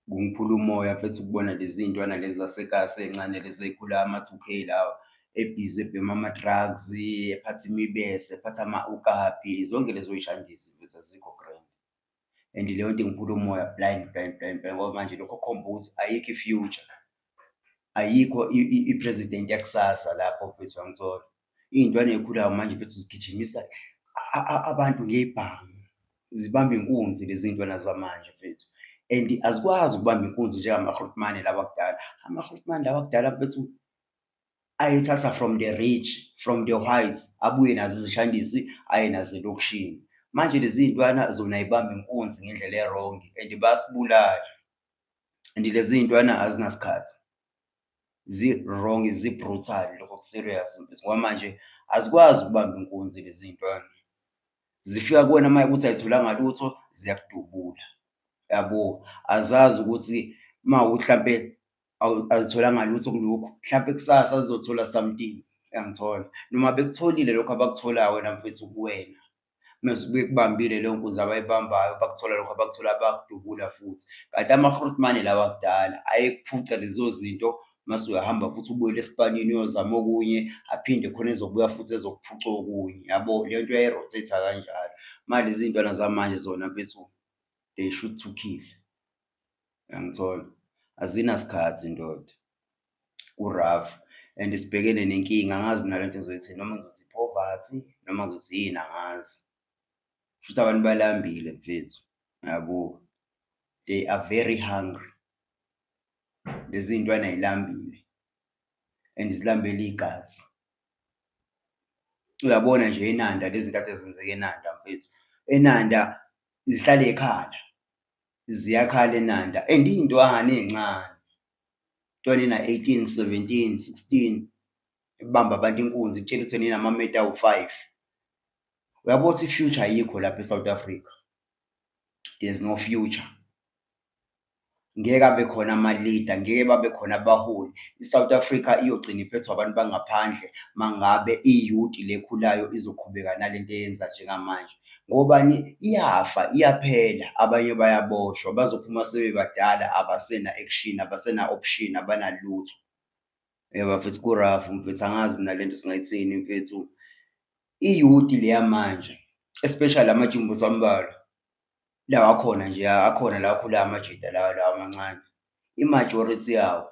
kungiphula umoya mfethu ukubona lezi ntwana lezi zasekasi encane lezi eyikhula ama-two k lawa ebhizi ebhema ama-drugs ephatha imibese ephatha ama-ukapi zonke lezo yishandisi mfethu azikho grand and leyo nto ingiphula umoya blind blind blind blind ngoba manje lokho kukhomba ukuthi ayikho i-future ayikho i-president yakusasa lapho mfethu wangithola iy'ntwana ey'khulayo manje mfethu zigijimisa abantu ngebhange zibamba inkunzi lezi ntwana zamanje mfethu and azikwazi ukubamba inkunzi njengamahrutmane lawa kudala amahrutmane lawa kudala mfethu ayethatha from the rich from the whites abuye nazo izishandisi aye nazo elokishini manje lezi ntwana zona ibamba inkunzi ngendlela erongi and basibulala and lezi iy'ntwana azinasikhathi zi-wrong zi-brutal lokho ku-serious ngoba manje azikwazi ukubamba inkunzi lezi ntwana zifika kuwena uma ukuthi ayitholanga lutho ziyakudubula yabo azazi ukuthi uma mhlawumpe azitholanga lutho kulokhu mhlawumpe kusasa zizothola something yangithola noma bekutholile lokho abakutholayo wena mfethu kuwena mezibuye kubambile leyo nkunzi abayibambayo bakuthola lokho abakuthola bakudubula futhi kanti amahrutmane lawa kudala ayekuphuca lezo zinto mase uyahamba futhi ubuyele esipanini uyozama okunye aphinde khona ezobuya futhi ezokuphuca okunye yabo le nto uyayirotate kanjalo manje izintwana zamanje zona bethu they should to kill Uyangithola? Azinasikhathi ndoda. Ku-rough and sibhekene nenkinga angazi mina le nto ngizoyithi noma ngizothi poverty noma ngizothi yini angazi. Futhi abantu balambile mfethu, yabo. They are very hungry. Lezi ntwana yilambile and zilambele igazi. Uyabona nje eNanda lezi nkathi ezenzeka eNanda mfethu, eNanda zihlala ekhaya. ziyakhala eNanda and iy'ntwana ey'ncane ntwana ena-eighteen, seventeen, sixteen ebamba abantu inkunzi kutshela ukuthi nina amameta awu-five uyabo ukuthi i-future ayikho lapha e-south africa there's no future ngeke abe khona ama-leader ngeke babe khona abaholi i-south africa iyogcina iphethwa abantu bangaphandle mangabe iyuti lekhulayo izoqhubeka nalento eyenza njengamanje Ngobani? Iyafa, iyaphela. Abanye bayaboshwa, bazophuma sebebadala, abasena action, abasena option, abanalutho. Yeba mfethu kurafu mfethu, angazi mina le nto singayithini mfethu. Iyuti leya manje, especially amajimbo sambalwa lawa akhona nje, akhona la akhula amajita lawa lawa amancane. I-majority yawo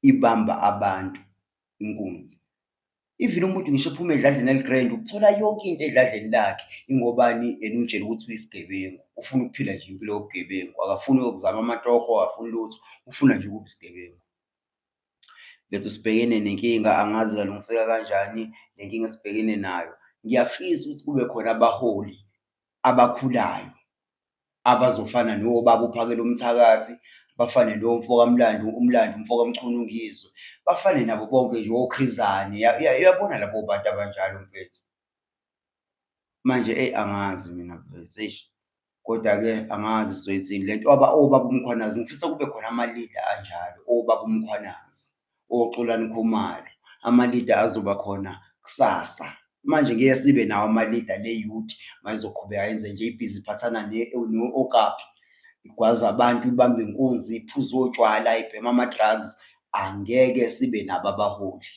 ibamba abantu inkunzi even umuntu ngisho ephuma edladleni eligrand ukuthola yonke into edladleni lakhe ingobani and umtshela ukuthi uyisigebengu ufuna ukuphila nje impilo yobugebengu akafuni uyokuzama amatoho akafuni lutho ufuna nje ukuba isigebengu bethu sibhekene nenkinga angazi kalungiseka kanjani le nkinga esibhekene nayo ngiyafisa ukuthi kube khona abaholi abakhulayo abazofana nobaba uphakela umthakathi bafane nomfokamlando umlando umfokamchunu ngizwe bafane nabo bonke nje okhrizane uyabona labo bantu abanjalo mfethu manje eyi angazi mina mfethu eish kodwa-ke angazi sizoyithini le nto obaba umkhwanazi ngifisa kube khona amalida anjalo obaba umkhwanazi oXolani Khumalo amalida azoba khona kusasa manje ngeke sibe nawo amalida le youth mayizoqhubeka yenze nje ibhizi iphathana ne-okapi igwaza abantu ibambe inkunzi iphuze otshwala ibhema ama-drugs angeke sibe nabo abaholi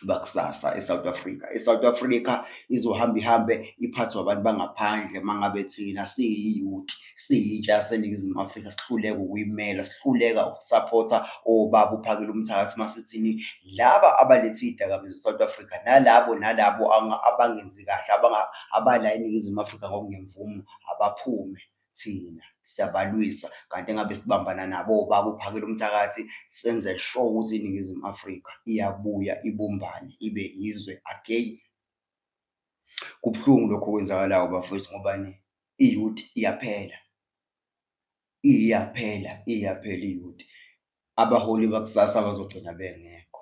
bakusasa eSouth Africa. ESouth Africa izohamba ihambe iphathwa abantu bangaphandle mangabe thina siyiyouth siyitsha yaseNingizimu Afrika sihluleka ukuyimela sihluleka ukusaphotha obaba uphakela umthakathi masithini laba abalethe izidakamizwa eSouth Africa nalabo nalabo abangenzi kahle abala eNingizimu Afrika ngokungemvumo abaphume thina siyabalwisa kanti engabe sibambana nabo bakuphakela umthakathi senze sure ukuthi iningizimu afrika iyabuya ibumbane ibe yizwe again kubuhlungu lokho kwenzakalayo bafowethu ngobani iyouth iyaphela iyaphela iyaphela iyouth abaholi bakusasa bazogcina bengekho